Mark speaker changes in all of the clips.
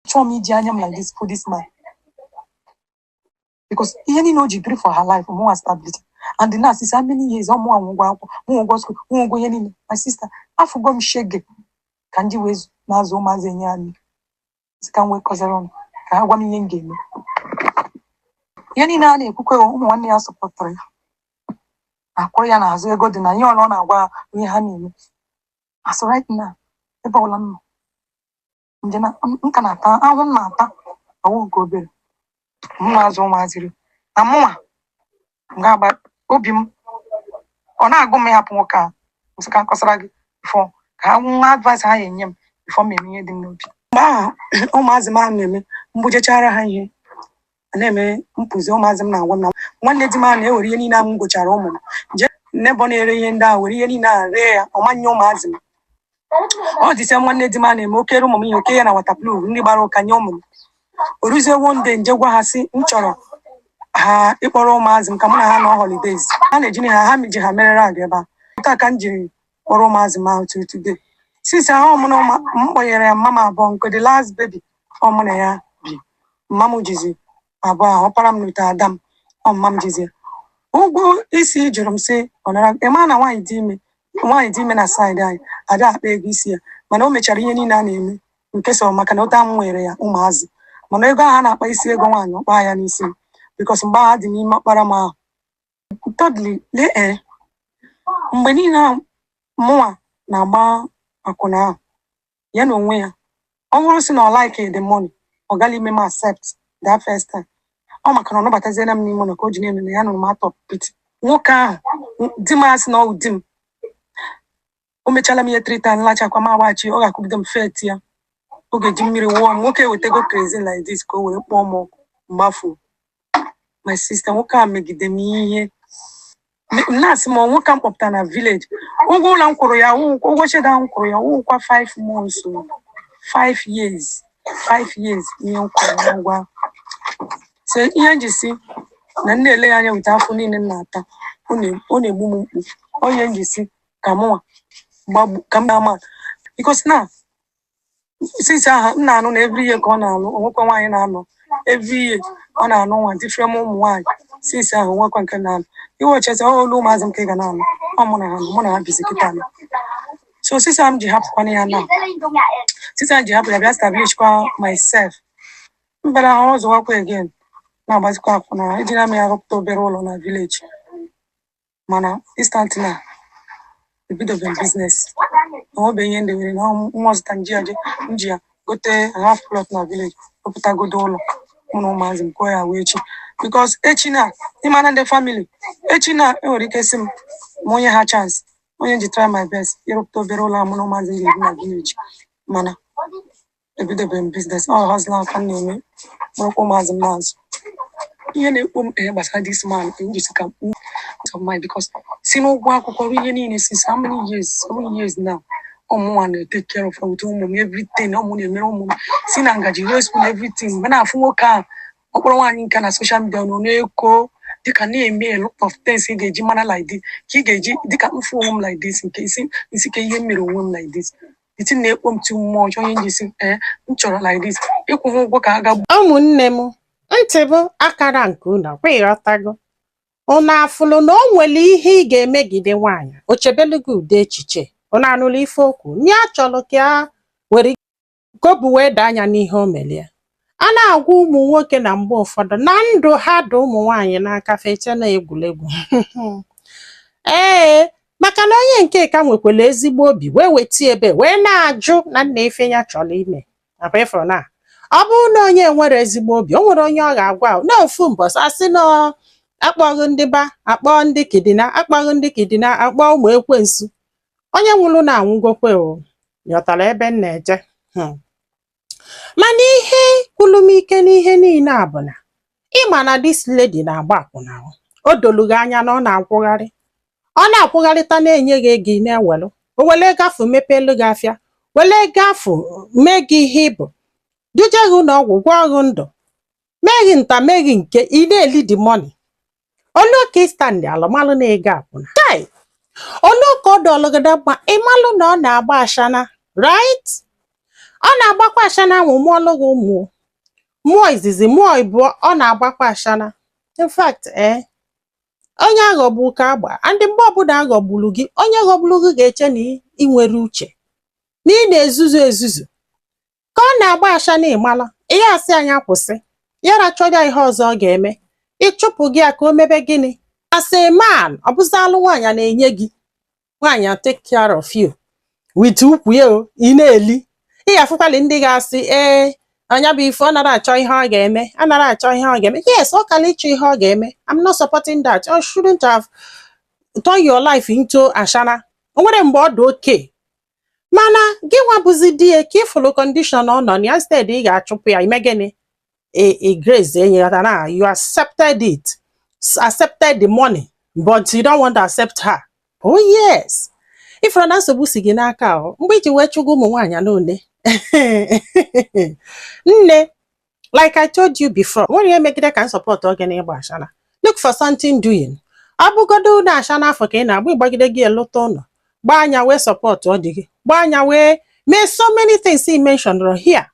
Speaker 1: Achọghị m iji anya m like this for this man. Because ihe niile o ji biri for her life, mụnwa stability. And na since how many years, ọ mụnwa nwe ụgwọ akwụkwọ, mụnwa ụgwọ school, mụnwa ụgwọ ihe niile. My sister, afụgo m shege ka m ji wee zu- na-azụ ụmụazị enye anyị. Sị ka m wee kọsara ụnụ, ka ha gwa m ihe m ga-eme. Ihe niile a na-ekwukwe ụmụ nwanne ya sọpọtụrụ ya. Akwụrụ ya n'azụ ego dị na ihe ọla ọ na-agwa ha ihe ha na-eme. As right now, ebe ọla m nọ, nje na nka na-ata ahụhụ m na-ata ọ wụ nke obere m na-azụ ụmụazịrị na mụnwa ga-agba obi m ọ na-agụ m ịhapụ nwoke a m sị ka m kọsara gị fọ ka ha nwa advice ha ya-enye m before m eme ihe dị m n'obi mgbe ahụ ụmụazị m a na-eme m bujechara ha ihe a na-eme m pụzie ụmụazị m na-agwa m na nwanne di m a na-ewere ihe niile a m gochara ụmụ m jee n'ebe ọ na-ere ihe ndị ahụ were ihe niile a ree ya ọ ma nye ụmụazị m ọ dịsịa nwanne di m a na-eme o kere ụmụ m ihe o kee ya na waterproof nri gbara ụka nye ụmụ m o ruzie one day m jee gwa ha sị m chọrọ ha ịkpọrọ ụmụazị m ka mụ na ha nọ holidays ha na-eji na ha ha ji ha mere rag ebe a taa ka m jiri kpọrọ ụmụazị m ahụ till today since ahụ ọ mụ na ụmụ m kpọnyere ya mama m abụọ nke the last baby ọ mụ na ya bi mama m jizi abụọ ahụ ọkpara m n'ute ada m ọ mama m jizi ụgwọ isi ị jụrụ m sị ọ nara ị ma na nwaanyị dị ime nwaanyị dị ime na side anyị a da-akpa ego isi ya mana o mechara ihe niile a na-eme nke so maka na ụta m nwere ya ụmụazị mana ego ahụ a na-akpa isi ego nwaanyị ọ kpa ya n'isi m because mgbe ahụ adị m ime ọkpara m ahụ Thirdly, lee ee, mgbe niile a mụnwa na-agba akwụna ahụ, ya na onwe ya, ọ bụrụ sị na ọ like the money, ọ gaghị ime m accept that first time. Ọ maka na ọ nabataziela m n'ime ụlọ ka o ji na-eme na ya nụrụ m out of pity. Nwoke ahụ, di m a sị na ọ wụ di m, o mechala m ihe three times lachakwa m agbachi ọ ga-akụgide m faintia ọ ga-eji mmiri wụọ m nwoke wetego kerosene like this ka o were kpọọ m ọkụ m gbafu my sister nwoke a megide m ihe Me- m na-asị m ọ nwoke a m kpọpụta na village ụgwọ ụlọ m kwụrụ ya wụ- ụgwọ shed m kwụrụ ya wụkwa 5 months o. 5 years 5 years ihe m kwụrụ ya ụgwọ ahụ. so ihe m ji si na m na-ele ya anya wụ the afụfụ niile m na-ata ọ na- ọ na-egbu m mgbu ọ ihe m ji si ka mụnwa gbagbu ka m na-ama because na since ahụ m na-anụ na every year ka ọ na-alụ o nwekwa nwaanyị na-anọ every year ọ na-anụ nwa different ụmụ nwaanyị since ahụ o nwekwa nke na-alụ iwechezi ọ olu ụmụazị m ka ị ga na-anụ ọ mụ na ha nọ, mụ na ha bizi kịta nọ so since ahụ m ji hapụkwana ya na since ahụ m ji hapụ ya bịa establishkwa myself m bịara hustlewakwa again na-agbazikwa akwụna ejina m ya rụpụta obere ụlọ na village mana instead na ebidobere business na ọ bụ ihe ndị nwere na nwa zụta nji ya nji ya gote half plot na village rụpụtagodo ụlọ mụ na ụmụazị m kụọ ya wee echi because echi na ịmana ndị family echi na enwere ike sị m ma onye ha chance onye ji try my best ịrụpụta obere ụlọ mụ na ụmụazị m ga-ebi na village mana ebidebe m business ọ hazila aka m na-eme mụrụkwa ụmụazị m na-azụ ihe na-ekpo m ihe gbasara this man ka m jisi ka m of mine because si n'ụgwọ akwụkwọ ruo ihe niile since how many years seven years now ọ mụnwa na-etake care of ụtụ ụmụ m everything ọ mụ na-emere ụmụ m si na ngaji ruo spoon everything mgbe m na-afụ nwoke ahụ ọkpọrọ nwaanyị nke na social media nọ na-eko dịka na-eme a lot of things ị ga-eji mara like this ka ị ga-eji dịka m fụ onwe m like this nke isi isi ka ihe m mere onwe m like this iti na-ekpo m ti mmụọ ọjọọ onye njisi ee eh, m chọrọ like this ịkwụ m ụgwọ ka a ga ụmụnne m
Speaker 2: ntị bụ akara nke unu kwa ị ghọtago unu afụlụ na o nwere ihe ị ga-emegide nwaanyị o chebelu gị ụdị echiche unu anụla ife o kwu na ya chọlụ ka ya were kobu wee daa anya n'ihe o melie A na-agwa ụmụ nwoke na mgbe ụfọdụ na ndụ ha dị ụmụ nwaanyị n'aka fa eche na egwuregwu ee maka na onye nke ka nwekwara ezigbo obi wee weta ebe wee na-ajụ na nna ife ya chọrọ ime nakwa ịfụrụ na ọ bụrụ na onye nwerọ ezigbo obi o nwere onye ọ ga-agwa na ofu mbọsị asị na akpọghị ndị ba akpọ ndị kidnap akpọghị ndị kidnap akpọ ụmụ ekwensu onye nwụrụ na anwụgokwe ị ghọtara ebe m na-eje mana ihe gwụlụ m ike n'ihe niile a bụ na ị ma na this lady na-agba akwụna o. o dolu gị anya na ọ na-akwụgharị ọ na-akwụgharịta na-enye gị ego ị na-ewelu o wele ego afụ mepeelu gị afịa wele ego afụ mee gị ihe ị bụ duje gị ụlọ ọgwụ gwọọ gị ndụ mee gị nta mee gị nke ị na-eli the money o lu ka ị standịalụ malụ na ego akwụna chai o lu ka ọ dịlụ gị na mma ị malụ na ọ na-agba ashana right ọ na-agbakwa ashana ahụ mụọlụ gị ụmụ mụọ izizi mụọ ịbụọ ọ na-agbakwa ashana in fact eh onye aghọgbu ka agba and mgbe ọbụla aghọgburu gị onye ghọgburu gị ga-eche na i nwerọ uche na ị na-ezuzu ezuzu ka ọ na-agba ashana ịmala ya asị nya kwụsị ya rachọja ihe ọzọ ọ ga-eme ị chụpụ gị ya ka o mebe gịnị as a man ọ bụzi alụ nwaanyị a na-enye gị nwaanyị a take care of you with ukwu ya o ị na-eli ị ga-afụkwali ndị ga-asị ee na nya bụ ife ọ nara achọ ihe ọ ga-eme a nara achọ ihe ọ ga-eme yes ọ kala ịchọ ihe ọ ga-eme I'm not supporting that you shouldn't have turn your life into ashana o nwere mgbe ọ dị oke mana gịnwa bụzi di ya ka ịfụlụ condition ọ nọ na ya instead ị ga-achụpụ ya ime gịnị Grace enye ya na you accepted it accepted the money but you don't want to accept her oh yes ịfụrụ na nsogbu si gị n'aka ọ mgbe iji wee chụgo ụmụ nwaanyị n'ole nne like I told you before nwere ihe megide ka m support gị na ịgba ashana look for something doing ọ bụgodo na ashana afụ ka ị na-agba ị gbagidego ya lụta ụlọ gbaa nya wee support di gị gbaa nya wee mee so many things i mentioned here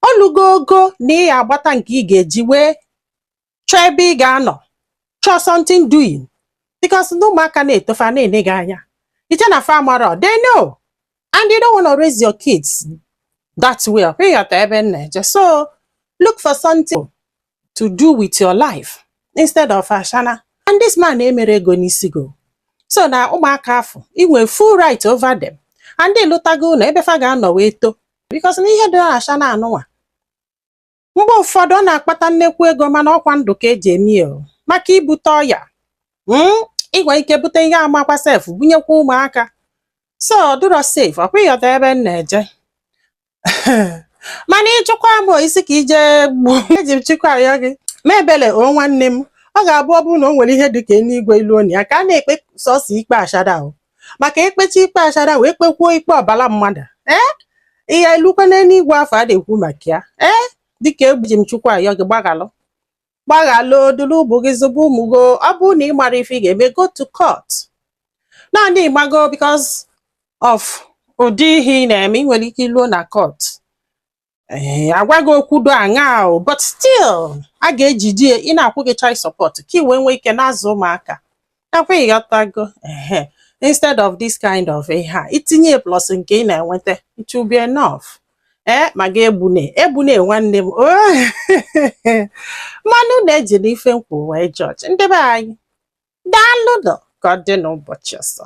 Speaker 2: o lugo ogo na ị ga-agbata nke ị ga-eji wee chọọ ebe ị ga-anọ chọọ something doing because ndị ụmụaka na-etofe a na-ene gị anya i che na fa amarọ they know and you don't want to raise your kids that way ọkwa ịghọta ebe m na-eje so look for something to do with your life instead of ashana and this man emerọ ego n'isi gị o so na ụmụaka afụ ị nwere full right over them and ị lụtago ụlọ ebe fa ga-anọ wee too because na ihe dị na ashana anụnwa Mgbe ụfọdụ ọ na-akpata nnekwu ego mana ọkwa ndụ ka eji eme ya maka ibute ọya hmm? ị nwere ike bute ihe amakwa sef bunyekwa ụmụaka so ọ dịrọ safe ọkwa ịghọta ebe m na-eje mana ịchụkwa m isi ka ije gbuo eji m Chukwu ayọ gị mee ebele o nwanne m ọ ga-abụ ọ bụrụ na o nwere ihe dị ka eluigwe ilu onye aka a na-ekpe sọsọ ikpe ashana maka ekpecha ikpe ashana wee kpekwuo ikpe ọbala mmadụ ee ị ya-elukwa n'eluigwe afụ a na-ekwu maka ya ee dịka eji m Chukwu ayọ gị gbaghalụ gbaghalụ dulu ụmụ gị zụba ụmụ gị ọ bụrụ na ị mara ife ị ga-eme go to court naanị ịmago because of ụdị ihe ị na-eme ị nwere ike luo na court ee eh, agwa gị okwu dị aṅaa but still a ga-ejide ya na-akwụ gị child support ka ị wee nwee ike na-azụ ụmụaka ọkwa ịghọtago ehe instead of this kind of ihe a itinye plus nke ị na-enweta it will be enough ee eh, mana egbune egbune nwanne m oh. mana unu ejina ife m kwu wee judge ndị be anyị daalụ nụ ka ọ dị n'ụbọchị ọzọ